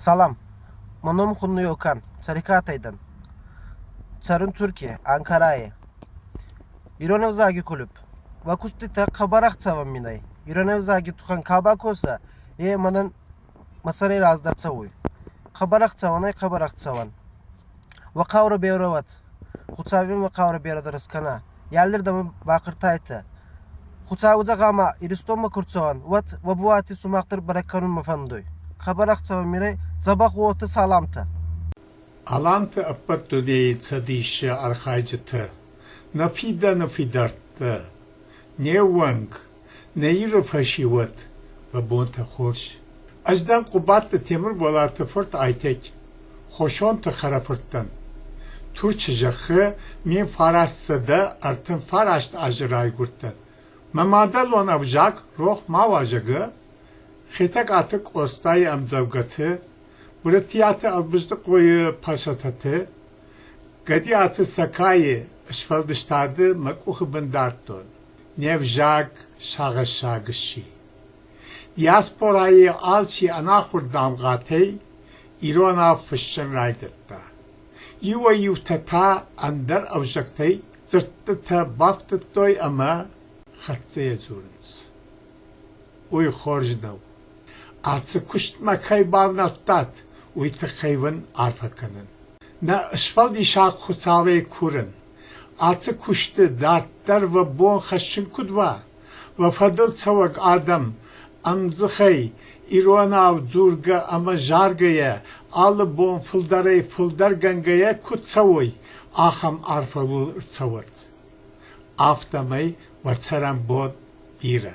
салам мӕ ном хуныйо кан цӕрикъатӕй дӕн цӕрын туркийӕ анкарайӕ ирон ӕвзаги кулуп уӕ куститӕ хъӕбӕр ӕхцӕвӕн мин ӕй ирон ӕвзаги тухӕн ка бакоса е мӕнӕн мӕ сӕрей раздӕр цӕуй хъӕбӕр ӕхцӕуӕн ӕй хъӕбӕр ӕхцӕуӕн Уӕ хъаурӕ берӕуӕд. Хуцауи мӕ хъаурӕ берӕ дӕр ескӕна. Аллирдӕмӕ бахъӕртайтӕ. Хуцауи зӕгъӕма, Иристонмӕ ку рцӕуӕн, уӕд уӕ буати сумах дӕр бӕрӕг кӕнунмӕ фӕндуй. Хабар ӕхцӕуӕн мирӕй дзӕбӕх уотӕ саламтӕ. Аланты ӕппӕт дунейы цӕдисы архайджытӕ, нӕ фидӕны фидӕрттӕ, не ууӕнк, Нӕ Иры фӕсивӕд, мӕ бонтӕ хорз. Ӕз дӕн Хъуыбадты Темырболаты фырт Айтег, Хосонты хӕрӕфыртӕн. Турчы зӕххы ме фараст сӕдӕ ӕртынфараст азы райгуырдтӕн. Мӕ мадӕлон ӕвзаг рох ма уа, зӕгъы Хетӕгкаты Къостайы ӕмдзӕвгӕты, Уырытиаты Ӕлбыздыхъойы пӕсӕтӕты, Гӕдиаты Сакайы сфӕлдыстады мӕ къухы бын дардтон. Не взаг сагъӕссаг сси. диаспорайы алчи ӕнахуыр дамгъӕтӕй иронау фыссын райдыдта. Иуӕй-иутӕ та ӕндӕр ӕвзӕгтӕй дзырдтытӕ бафтыдтой ӕмӕ хӕццӕйӕ дзурынц. Уый хорз нӕу. Ацы куыстмӕ кӕй бавнӕлдтат, уый тыххӕй уын арфӕ кӕнын. Нӕ сфӕлдисӕг Хуыцауӕй курын, Ацы куысты дарддӕр уӕ бон хӕссын куыд уа, уӕ фӕдыл цӕуӕг адӕм ӕмдзыхӕй иронау дзургӕ ӕмӕ заргӕйӕ, алы бон фылдӕрӕй-фылдӕргӕнгӕйӕ куыд цӕуой, ахӕм арфӕуыл ӕрцӕуӕд. Афтӕмӕй уӕ цӕрӕнбон бирӕ!